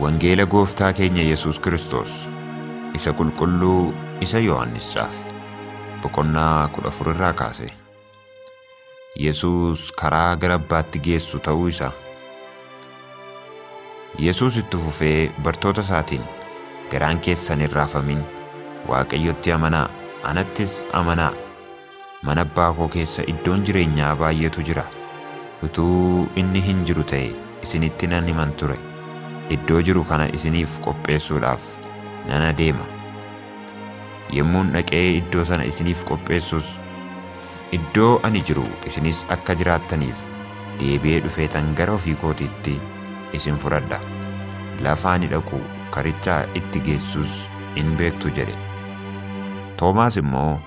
Wangeela Gooftaa keenya Yesuus Kiristoos isa qulqulluu isa Yohaannis caafe boqonnaa 14 irraa kaase. Yesuus karaa gara abbaatti geessu ta'uu isaa. Yesuus itti fufee bartoota isaatiin garaan keessan hin raafamin Waaqayyotti amanaa anattis amanaa Mana abbaa koo keessa iddoon jireenyaa baay'eetu jira. Utuu inni hin jiru ta'e isinitti nan himan ture. Iddoo jiru kana isiniif qopheessuudhaaf nan adeema. Yommuun dhaqee iddoo sana isiniif qopheessus, iddoo ani jiru isinis akka jiraattaniif deebi'ee dhufeetan gara ofii kootiitti isin fudhadha. Lafa ani dhaqu karicha itti geessus in beektu jedhe. Toomaas immoo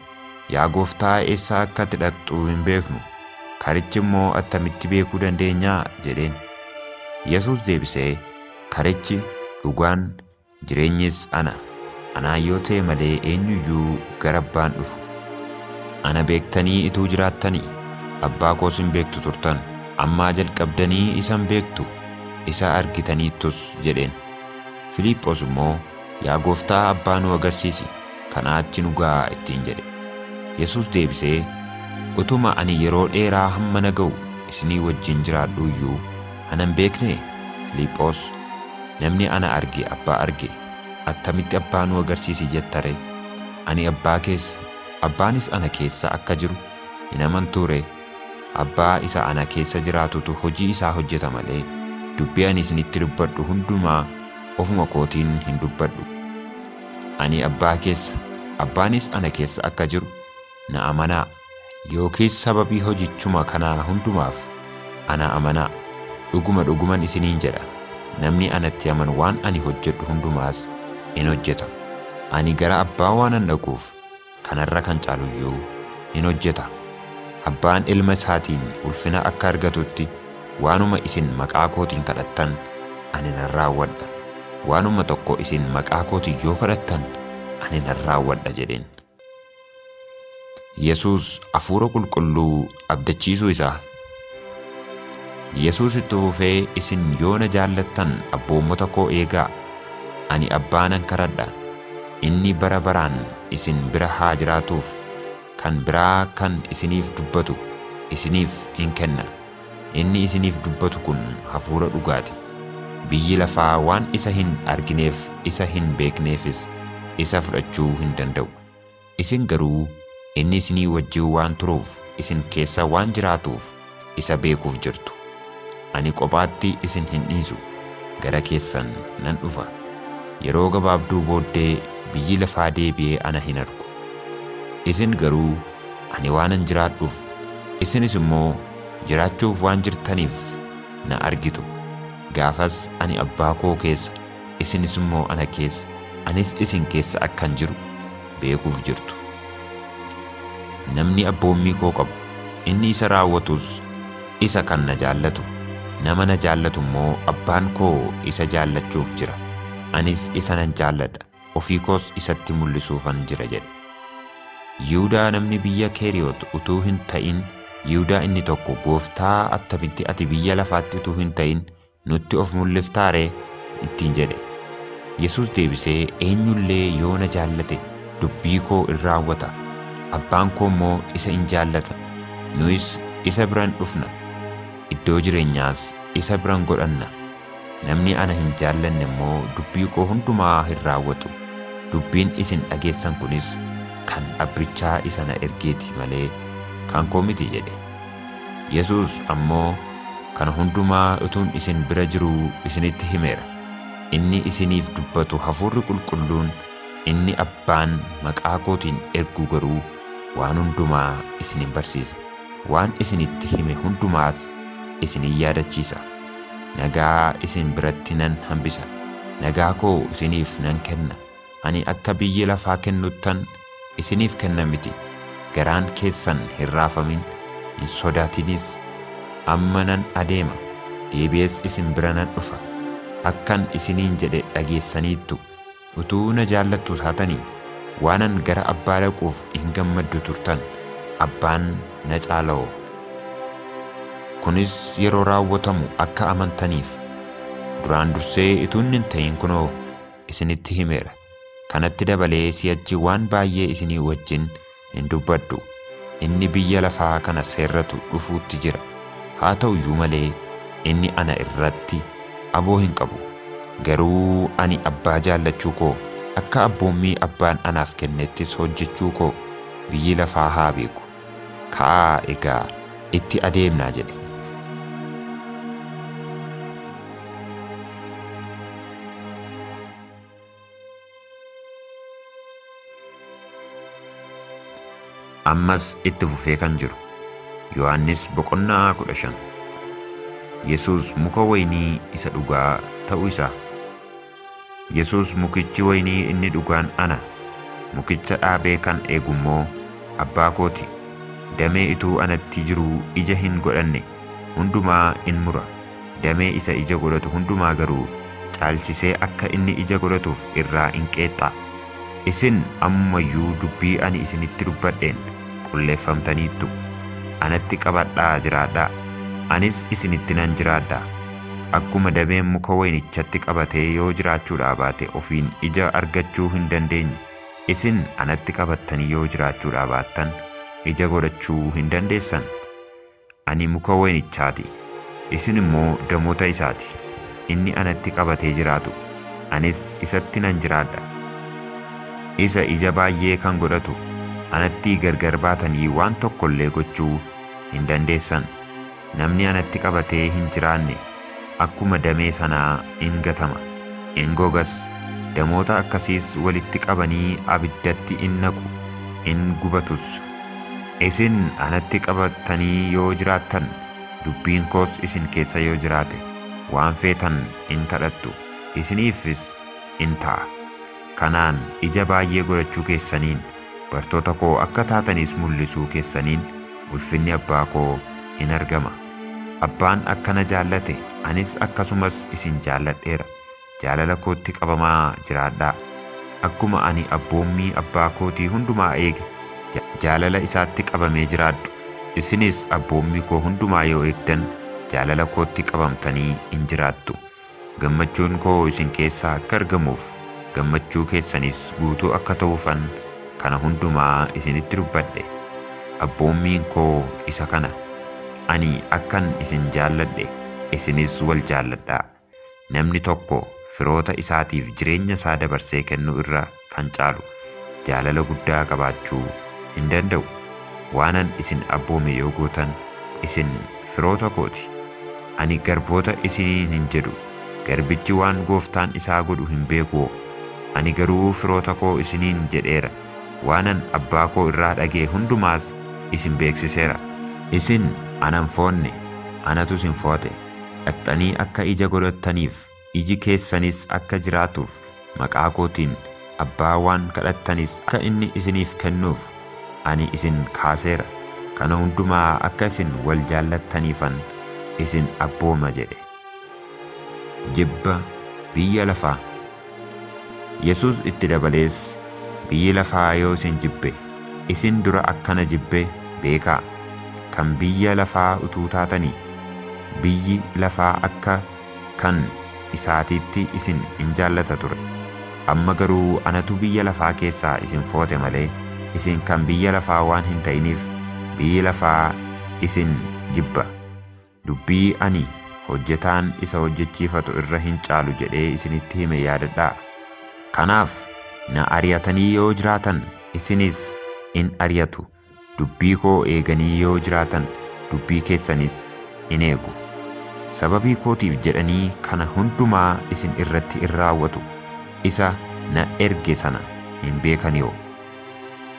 Yaa Gooftaa eessa akka ati dhaqxu hin beeknu, karichi immoo attamitti beekuu dandeenya? jedheen. Yesuus deebisee, Karichi, dhugaan, jireenyis ana, anaan yoo ta'e malee eenyu iyyuu gara abbaan dhufu. Ana beektanii ituu jiraattanii, abbaa koos hin beektu turtan, ammaa jalqabdanii isa hin beektu, isa argitaniittus jedheen. Filiiphoos immoo, Yaa Gooftaa abbaa nuu agarsiisi, Kanaa achi nu ga'aa ittiin jedhe. Yesuus deebisee, Utuma ani yeroo dheeraa hamma na ga'u isinii wajjin jiraadhuu iyyuu ana hin beeknee? Filiiphoos, Namni ana arge Abbaa arge, attamitti Abbaa nu agarsiisi jetta ree? Ani Abbaa keessa, Abbaanis ana keessa akka jiru hin amantuu ree? Abbaa isa ana keessa jiraatutu hojii isaa hojjeta malee, dubbii ani isinitti dubbadhu hundumaa ofuma kootiin hin dubbadhu. Ani Abbaa keessa, Abbaanis ana keessa akka jiru na amanaa. Yookiis sababii hojichuma kanaa hundumaaf ana amanaa. Dhuguma dhuguman isiniin jedha, namni anatti amanu waan ani hojjedhu hundumaas in hojjeta. Ani gara Abbaa waanan dhaquuf, kanarra kan caaluyyuu in hojjeta. Abbaan ilma isaatiin ulfina akka argatutti waanuma isin maqaa kootiin kadhattan ani nan raawwadha. Waanuma tokko isin maqaa kootiin yoo kadhattan ani nan raawwadha jedheen. Yesuus hafuura qulqulluu abdachiisuu isaa. Yesuus itti fufee isin yoo na jaallattan abboommota koo eegaa. Ani abbaa nan kadhadha, inni bara baraan isin bira haa jiraatuuf kan biraa kan isiniif dubbatu isiniif in kenna. Inni isiniif dubbatu kun hafuura dhugaati. Biyyi lafaa waan isa hin argineef isa hin beekneefis isa fudhachuu hin danda'u. Isin garuu inni isinii wajjin waan turuuf isin keessa waan jiraatuuf isa beekuuf jirtu. Ani qophaatti isin hin dhiisu, gara keessan nan dhufa. Yeroo gabaabduu booddee biyyi lafaa deebi'ee ana hin argu. Isin garuu ani waanan jiraadhuuf, isinis immoo jiraachuuf waan jirtaniif na argitu. Gaafas ani Abbaa koo keessa, isinis immoo ana keessa, anis isin keessa akkan jiru beekuuf jirtu. Namni abboommii koo qabu, inni isa raawwatus isa kan na jaallatu, nama na jaallatu immoo Abbaan koo isa jaallachuuf jira, anis isa nan jaalladha, ofii koos isatti mul'isuufan jira jedhe. Yihudaa namni biyya Keeriyoot utuu hin ta'in, Yihudaa inni tokko, Gooftaa, attamitti ati biyya lafaatti utuu hin ta'in Nutti of mul'iftaa ree? ittiin jedhe. Yesuus deebisee, Eenyullee yoo na jaallate dubbii koo in raawwata, Abbaan koo immoo isa in jaallata, nuyis isa bira in dhufna, iddoo jireenyaas isa bira in godhanna. Namni ana hin jaallanne immoo dubbii koo hundumaa hin raawwatu. Dubbiin isin dhageessan kunis kan Abbichaa isa na ergeeti malee kan koo miti jedhe. Yesuus ammoo, Kana hundumaa utuun isin bira jiruu isinitti himeera. Inni isiniif dubbatu Hafuurri Qulqulluun inni Abbaan maqaa kootiin ergu garuu waan hundumaa isin in barsiisa, waan isinitti hime hundumaas isin in yaadachiisa. Nagaa isin biratti nan hambisa, nagaa koo isiniif nan kenna. Ani akka biyyi lafaa kennuttan isiniif kenna miti, garaan keessan hin raafamin, hin sodaatinis. Amma nan adeema, deebi'ees isin bira nan dhufa. Akkan isiniin jedhe dhageessaniittu, utuu na jaallattu taatanii, waanan gara Abbaa dhaquuf in gammaddu turtan, Abbaan na caala'oo. Kunis yeroo raawwatamu akka amantaniif. Duraan dursee utuu inni hin ta'in kunoo, isinitti himeera. Kanatti dabalee si'achi waan baay'ee isinii wajjin hin dubbadhu. Inni biyya lafaa kana seerratu dhufuutti jira. Haa ta'u iyyuu malee, inni ana irratti aboo hin qabu. Garuu ani Abbaa jaallachuu koo, akka abboommii Abbaan anaaf kennettis hojjechuu koo biyyi lafaa haa beeku. Ka'aa egaa itti adeemnaa jedhe. Ammas itti fufee kan jiru. Yohaannis boqonnaa 15. Yesuus muka wayinii isa dhugaa ta'uu isaa. Yesuus mukichi waynii inni dhugaan ana, mukicha dhaabee kan eegu immoo Abbaa koo ti. Damee ituu anatti jiruu ija hin godhanne hundumaa in mura, damee isa ija godhatu hundumaa garuu caalchisee akka inni ija godhatuuf irraa in qeexxa. Isin amma iyyuu dubbii ani isinitti dubbadheen qulleeffamtaniittu. Anatti qabadhaa jiraadhaa, anis isinitti nan jiraadha. Akkuma dameen muka wayinichatti qabatee yoo jiraachuudhaa baate ofiin ija argachuu hin dandeenye, isin anatti qabattanii yoo jiraachuudhaa baattan ija godhachuu hin dandeessan. Ani muka wayinichaa ti, isin immoo damoota isaa ti, inni anatti qabatee jiraatu, anis isatti nan jiraadha. Isa ija baay'ee kan godhatu, anattii gargar baatanii waan tokko illee gochuu hin dandeessan, namni anatti qabatee hin jiraanne, akkuma damee sanaa in gatama, in gogas, damoota akkasiis walitti qabanii abiddatti in naqu, in gubatus. Isin anatti qabattanii yoo jiraattan, dubbiin koos isin keessa yoo jiraate, waan feetan in kadhattu, isiniifis in ta'a. Kanaan ija baay'ee godhachuu keessaniin, bartoota koo akka taatanis mul'isuu keessaniin, ulfinni Abbaa koo in argama. Abbaan akka na jaallate, anis akkasumas isin jaalladheera. Jaalala kootti qabamaa jiraadhaa. Akkuma ani abboommii Abbaa kootii hundumaa eege, jaalala isaatti qabamee jiraadhu. Isinis abboommii koo hundumaa yoo eegdan, jaalala kootti qabamtanii in jiraattu. Gammachuun koo isin keessaa akka argamuuf, gammachuu keessanis guutuu akka ta'uufan kana hundumaa isinitti dubbadhe. Abboommiin koo isa kana, Ani akkan isin jaalladhe, isinis wal jaalladhaa. Namni tokko firoota isaatiif jireenya isaa dabarsee kennuu irra, kan caalu jaalala guddaa qabaachuu in danda'u. Waanan isin abboome yoo gootan, isin firoota koo ti. Ani garboota isiniin hin jedhu, garbichi waan gooftaan isaa godhu hin beekuwoo? Ani garuu firoota koo isiniin jedheera, waanan Abbaa koo irraa dhaga'e hundumaas isin beeksiseera. Isin ana hin foonne, anatus hin foo'ate, dhaqxanii akka ija godhattaniif iji keessanis akka jiraatuuf, maqaa kootiin Abbaa waan kadhattanis akka inni isiniif kennuuf, ani isin kaaseera, kana hundumaa akka isin wal jaallattaniifan isin abbooma jedhe. Jibba Biyya Lafaa Yesuus itti dabalees, Biyyi lafaa yoo isin jibbe, isin dura akkana jibbe beekaa, kan biyya lafaa utuu taatanii, biyyi lafaa akka Kan isaatiitti isin in jaallata ture, amma garuu anatu biyya lafaa keessaa isin foote malee, isin kan biyya lafaa waan hin ta'iniif, biyyi lafaa isin jibba. Dubbii ani, Hojjetaan isa hojjechiifatu irra hin caalu jedhee isinitti hime yaadadhaa. Kanaaf na ari'atanii yoo jiraatan, isinis in ari'atu. Dubbii koo eeganii yoo jiraatan dubbii keessanis in eegu. Sababii kootiif jedhanii kana hundumaa isin irratti in raawwatu, isa na erge sana hin beekanioo.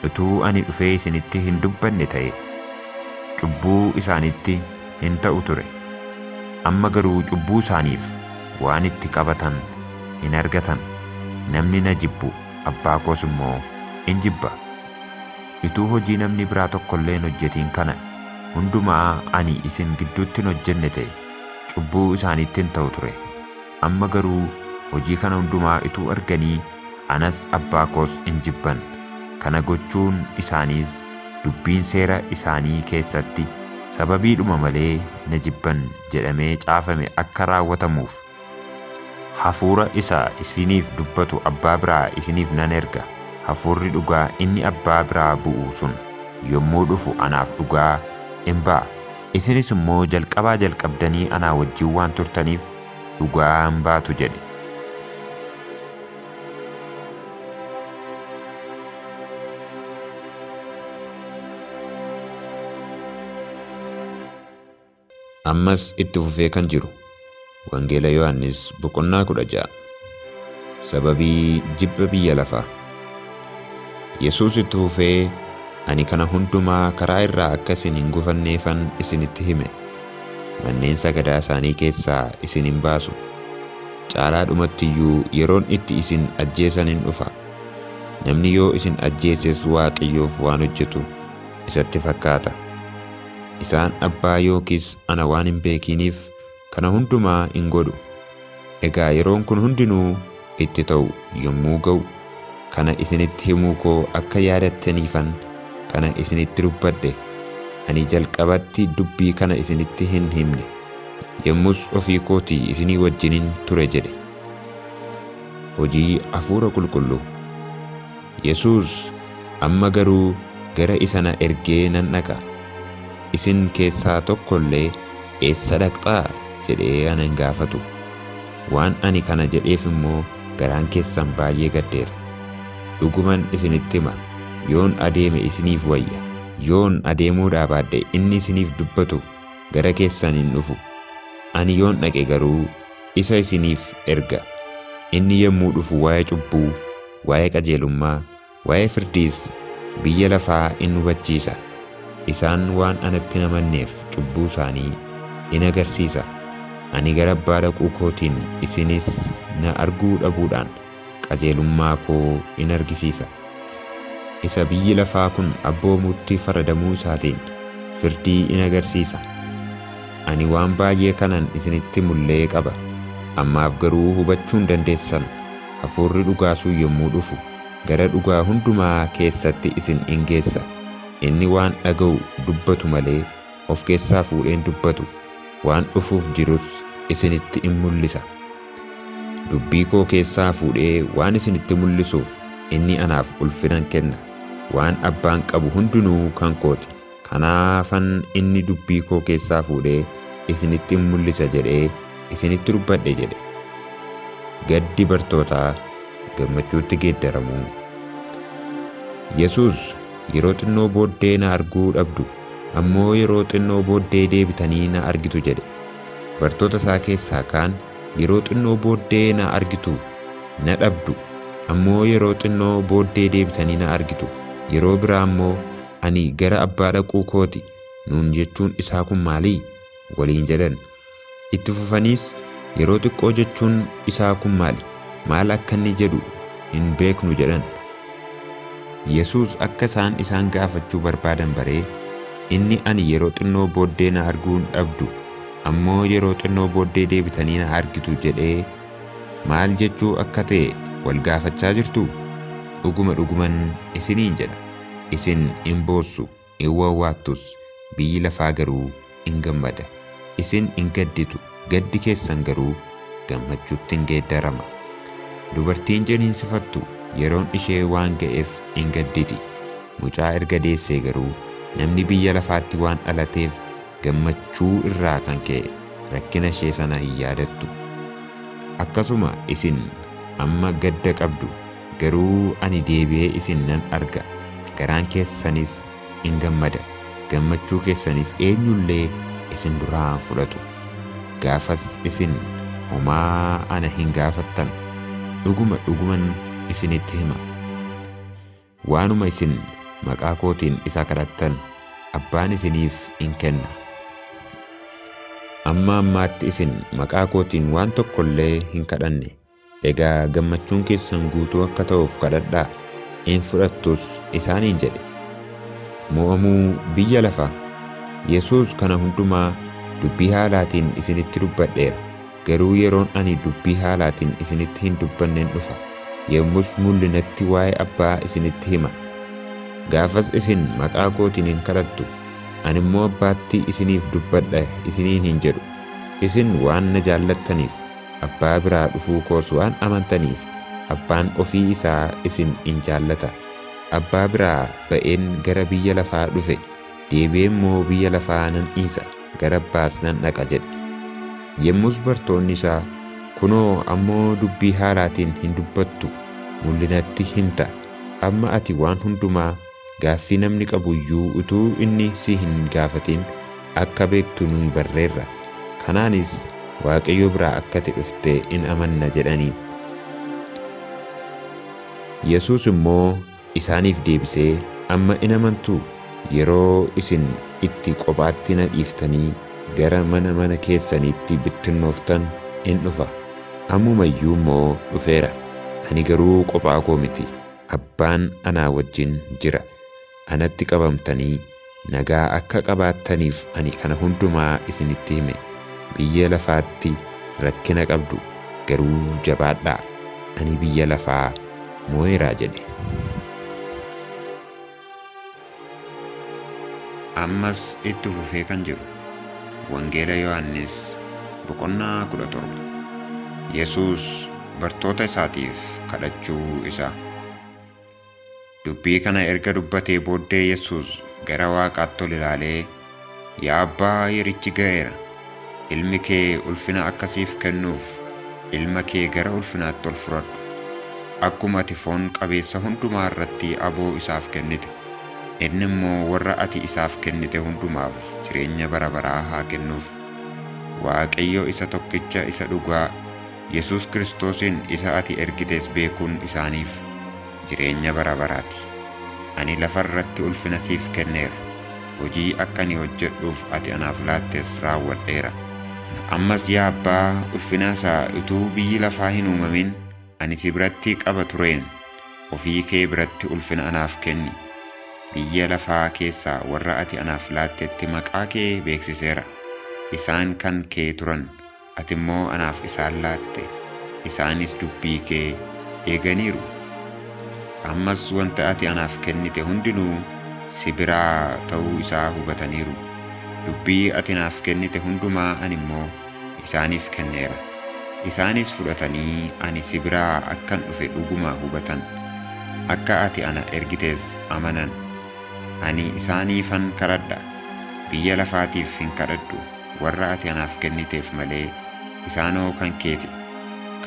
Utuu ani dhufee isinitti hin dubbanne ta'ee, cubbuu isaanitti hin ta'u ture, amma garuu cubbuu isaaniif waan itti qabatan hin argatan, namni na jibbu, Abbaa koos immoo in jibba. Ituu hojii namni biraa tokko illee hin hojjetiin kana hundumaa ani isin gidduutti hin hojjenne ta'e, cubbuu isaaniitti hin ta'u ture. Amma garuu hojii kana hundumaa ituu arganii, anas abbaa koos in jibban, kana gochuun isaaniis dubbiin seera isaanii keessatti, Sababiidhuma malee na jibban jedhamee caafame akka raawwatamuuf, Hafuura isa isiniif dubbatu Abbaa biraa isiniif nan erga, Hafuurri dhugaa inni Abbaa biraa bu'u sun yommuu dhufu anaaf dhugaa in ba'a, isinis immoo jalqabaa jalqabdanii anaa wajjin waan turtaniif dhugaa in baatu jedhe. Ammas itti fufee kan jiru Wangeela Yohaannis boqonnaa 16 sababii jibba biyya lafaa. Yesuus itti fufee ani kana hundumaa karaa irraa akka isin hin gufanneefan isinitti hime. Manneen sagadaa isaanii keessaa isin hin baasu. Caalaa dhumatti iyyuu yeroon itti isin ajjeesan in dhufa. Namni yoo isin ajjeeses Waaqayyoof waan hojjetu isatti fakkaata. Isaan abbaa yookiis ana waan hin beekiiniif kana hundumaa in godhu. Egaa yeroon kun hundinuu itti ta'u yommuu ga'u, kana isinitti himuu koo akka yaadattaniifan kana isinitti dubbadhe. Ani jalqabatti dubbii kana isinitti hin himne, yommus ofii kootii isinii wajjinin ture jedhe. Hojii Hafuura Qulqulluu. Yesuus, Amma garuu gara isa na ergee nan dhaqa. Isin keessaa tokko illee, Eessa dhaqxaa? jedhee ana hin gaafatu. Waan ani kana jedheef immoo garaan keessan baay'ee gaddeera. Dhuguman isinitti hima, yoon adeeme isiniif wayya. Yoon adeemuudhaa baadhe inni isiniif dubbatu gara keessan hin dhufu. Ani yoon dhaqe garuu isa isiniif erga. Inni yommuu dhufu waa'ee cubbuu. waa'ee qajeelummaa, waa'ee firdiis biyya lafaa in hubachiisa. Isaan waan anatti hin amanneef cubbuu isaanii in agarsiisa. Ani gara Abbaa dhaquu kootiin isinis na arguu dhabuudhaan qajeelummaa koo in argisiisa. Isa biyyi lafaa kun abboomutti faradamuu isaatiin firdii in agarsiisa. Ani waan baay'ee kanan isinitti mullee qaba, ammaaf garuu hubachuu hin dandeessan. Hafuurri dhugaa sun yommuu dhufu, gara dhugaa hundumaa keessatti isin in geessa. Inni waan dhaga'u dubbatu malee, of keessaa fuudhee hin dubbatu, waan dhufuuf jirus isinitti in mul'isa. Dubbii koo keessaa fuudhee waan isinitti mul'isuuf, inni anaaf ulfinan kenna. Waan Abbaan qabu hundinuu kan koo ti. Kanaafan inni dubbii koo keessaa fuudhee isinitti in mul'isa jedhee isinitti dubbadhe jedhe. Gaddi bartootaa gammachuutti geeddaramuu. Yesuus, Yeroo xinnoo booddee na arguu dhabdu, ammoo yeroo xinnoo booddee deebitanii na argitu jedhe. Bartoota isaa keessaa kaan, Yeroo xinnoo booddee na argitu, na dhabdu, ammoo yeroo xinnoo booddee deebitanii na argitu, yeroo biraa immoo ani gara abbaa dhaquu kooti nuun jechuun isaa kun maalii? waliin jedhan. Itti fufaniis yeroo xiqqoo jechuun isaa kun maali? Maal akka inni jedhu hin beeknu jedhan. Yesuus akka isaan isaan gaafachuu barbaadan baree inni ani yeroo xinnoo booddee na arguu hin dhabdu ammoo yeroo xinnoo booddee deebitanii na argitu jedhee maal jechuu akka ta'e wal gaafachaa jirtuu? Dhuguma dhuguman isiniin jedha. Isin in boossu, in wawwaattus, biyyi lafaa garuu in gammada. Isin in gadditu, gaddi keessan garuu gammachuutti in geeddarama. Dubartiin ciniinsifattu yeroon ishee waan ga'eef in gadditi, mucaa erga deessee garuu namni biyya lafaatti waan dhalateef gammachuu irraa kan ka'e rakkina ishee sana hin yaadattu. Akkasuma isin amma gadda qabdu, Garuu ani deebi'ee isin nan arga, garaan keessanis in gammada, gammachuu keessanis eenyu illee isin duraa hin fudhatu. Gaafas isin homaa ana hin gaafattan. Dhuguma, dhuguman isinitti hima, waanuma isin maqaa kootiin isa kadhattan, Abbaan isiniif in kenna. Amma ammaatti isin maqaa kootiin waan tokko illee hin kadhanne. Egaa gammachuun keessan guutuu akka ta'uuf kadhadhaa, in fudhattus isaaniin jedhe. Mo'amuu Biyya Lafaa. Yesuus kana hundumaa dubbii haalaatiin isinitti dubbadheera, garuu yeroon ani dubbii haalaatiin isinitti hin dubbannen dhufa, yommus mul'inatti waa'ee Abbaa isinitti hima. Gaafas isin maqaa kootiin in kadhattu, ani immoo Abbaatti isiniif dubbadha isiniin hin jedhu, isin waan na jaallattaniif. Abbaa biraa dhufuu koos waan amantaniif, abbaan ofii isaa isin in jaallata. Abbaa biraa ba'een gara biyya lafaa dhufe, deebi'ee immoo biyya lafaa nan dhiisa, gara abbaas nan dhaqa jedhe. Yemmus bartoonni isaa, Kunoo, ammoo dubbii haalaatiin hin dubbattu, mul'inatti himta, amma ati waan hundumaa Gaaffii namni qabu iyyuu utuu inni si hin gaafatin akka beektu nuyi barreerra. Kanaanis Waaqayyo biraa akkati dhufte in amanna jedhaniin. Yesuus immoo isaaniif deebisee, Amma in amantuu? Yeroo isin itti qophaatti na dhiiftanii gara mana mana keessaniitti bittinnooftan in dhufa. Ammuma iyyuu immoo dhufeera. Ani garuu qophaa koo miti. Abbaan anaa wajjin jira. Anatti qabamtanii nagaa akka qabaattaniif ani kana hundumaa isinitti hime. Biyya lafaatti rakkina qabdu, garuu jabaadhaa! Ani biyya lafaa mo'eera jedhe. Ammas itti fufee kan jiru Wangeela Yohaannis boqonnaa 17 Yesuus bartoota isaatiif kadhachuu isaa. Dubbii kana erga dubbatee booddee Yesuus gara waaqaatti ol ilaalee Yaa Abbaa yerichi ga'eera. Ilmi kee ulfina akka siif kennuuf ilma kee gara ulfinaatti ol fudhadhu. Akkuma ati foon qabeessa hundumaa irratti aboo isaaf kennite, inni immoo warra ati isaaf kennite hundumaaf jireenya bara baraa haa kennuuf. Waaqayyo isa tokkicha isa dhugaa, Yesuus Kiristoosiin isa ati ergites beekuun isaaniif jireenya bara baraati. Ani lafa irratti ulfina siif kenneera. hojii akka ani hojjedhuuf ati anaaf laattes raawwadheera. Ammas yaa Abbaa ulfinaa isaa utuu biyyi lafaa hin uumamin ani si biratti qaba tureen ofii kee biratti ulfina anaaf kenni. Biyya lafaa keessaa warra ati anaaf laattetti maqaa kee beeksiseera, isaan kan kee turan, Ati immoo anaaf isaan laatte, isaanis dubbii kee eeganiiru. Ammas wanta ati anaaf kennite hundinuu si biraa ta'uu isaa hubataniiru. Dubbii ati naaf kennite hundumaa ani immoo isaaniif kenneera, isaanis fudhatanii ani si biraa akkan dhufe dhuguma hubatan, akka ati ana ergites amanan. Ani isaaniifan kadhadha, biyya lafaatiif hin kadhadhu. warra ati anaaf kenniteef malee, isaanoo kan kee ti.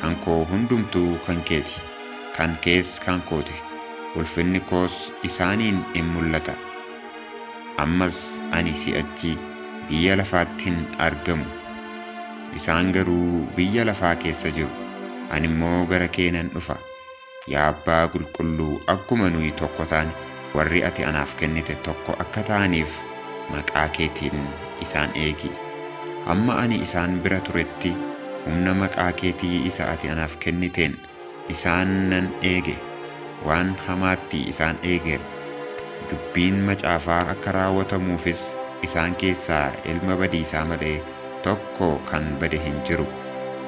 Kan koo hundumtuu kan kee ti, kan kees kan koo ti, ulfinni koos isaaniin in mul'ata. Ammas ani si'achi biyya lafaatti hin argamu, isaan garuu biyya lafaa keessa jiru, ani immoo gara kee nan dhufa. Yaa Abbaa Qulqulluu, akkuma nuyi tokko taane, warri ati anaaf kennite tokko akka ta'aniif maqaa keetiin isaan eegi. Hamma ani isaan bira turetti, humna maqaa keetii isa ati anaaf kenniteen isaan nan eege, waan hamaatti isaan eegeera. Dubbiin macaafaa akka raawwatamuufis isaan keessaa ilma badiisaa malee tokko kan bade hin jiru.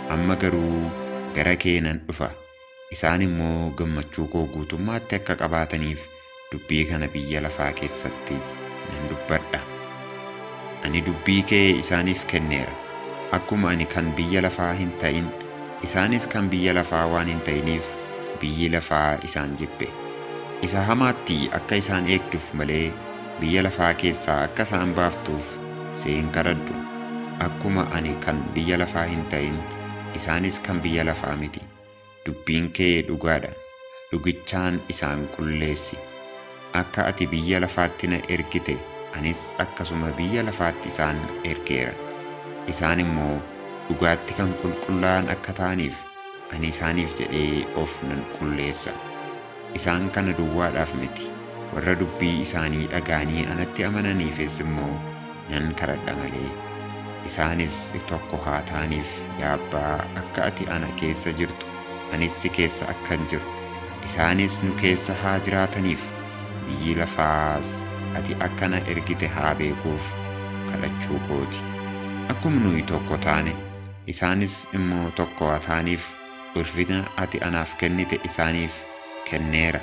Amma garuu gara kee nan dhufa. Isaan immoo gammachuu koo guutummaatti akka qabaataniif dubbii kana biyya lafaa keessatti nan dubbadha. Ani dubbii kee isaaniif kenneera, akkuma ani kan biyya lafaa hin ta'in, isaanis kan biyya lafaa waan hin ta'iniif biyyi lafaa isaan jibbe. Isa hamaatti akka isaan eegduuf malee biyya lafaa keessaa akka isaan baaftuuf si hin kadhadhu, akkuma ani kan biyya lafaa hin ta'in, isaanis kan biyya lafaa miti. Dubbiin kee dhugaa dha, dhugichaan isaan qulleessi. Akka ati biyya lafaatti na ergite, anis akkasuma biyya lafaatti isaan ergeera. Isaan immoo dhugaatti kan qulqullaa'an akka ta'aniif, ani isaaniif jedhee of nan qulleessa. Isaan kana duwwaadhaaf miti, warra dubbii isaanii dhaga'anii anatti amananiifis immoo nan kadhadha malee. Isaanis tokko haa ta'aniif, yaa Abbaa, akka ati ana keessa jirtu, anis si keessa akkan jiru, isaanis nu keessa haa jiraataniif, biyyi lafaas ati akka na ergite haa beekuuf kadhachuu koo ti. Akkuma nuyi tokko taane, isaanis immoo tokko haa ta'aniif, Ulfina ati anaaf kennite isaaniif kenneera,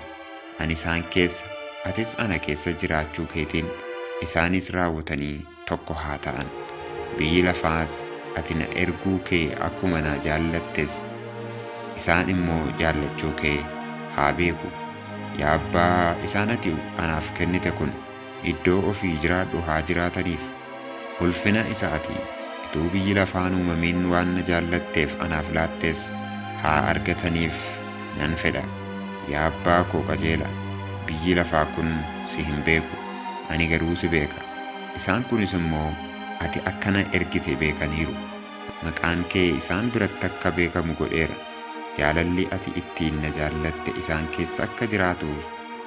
ani isaan keessa, atis ana keessa jiraachuu keetiin isaanis raawwatanii tokko haa ta'an. Biyyi lafaas ati na erguu kee akkuma na jaallattes, isaan immoo jaallachuu kee haa beeku. Yaa Abbaa, isaan ati anaaf kennite kun. iddoo ofii jiraadhu haa jiraataniif. Ulfina isa ati utuu biyyi lafaa hin uumamin waan na jaallatteef anaaf laattes haa argataniif nan fedha. Yaa Abbaa koo qajeelaa, biyyi lafaa kun si hin beeku, ani garuu si beeka. Isaan kunis immoo ati akka na ergite beekaniiru. Maqaan kee isaan biratti akka beekamu godheera, jaalalli ati ittiin na jaallatte isaan keessa akka jiraatuuf,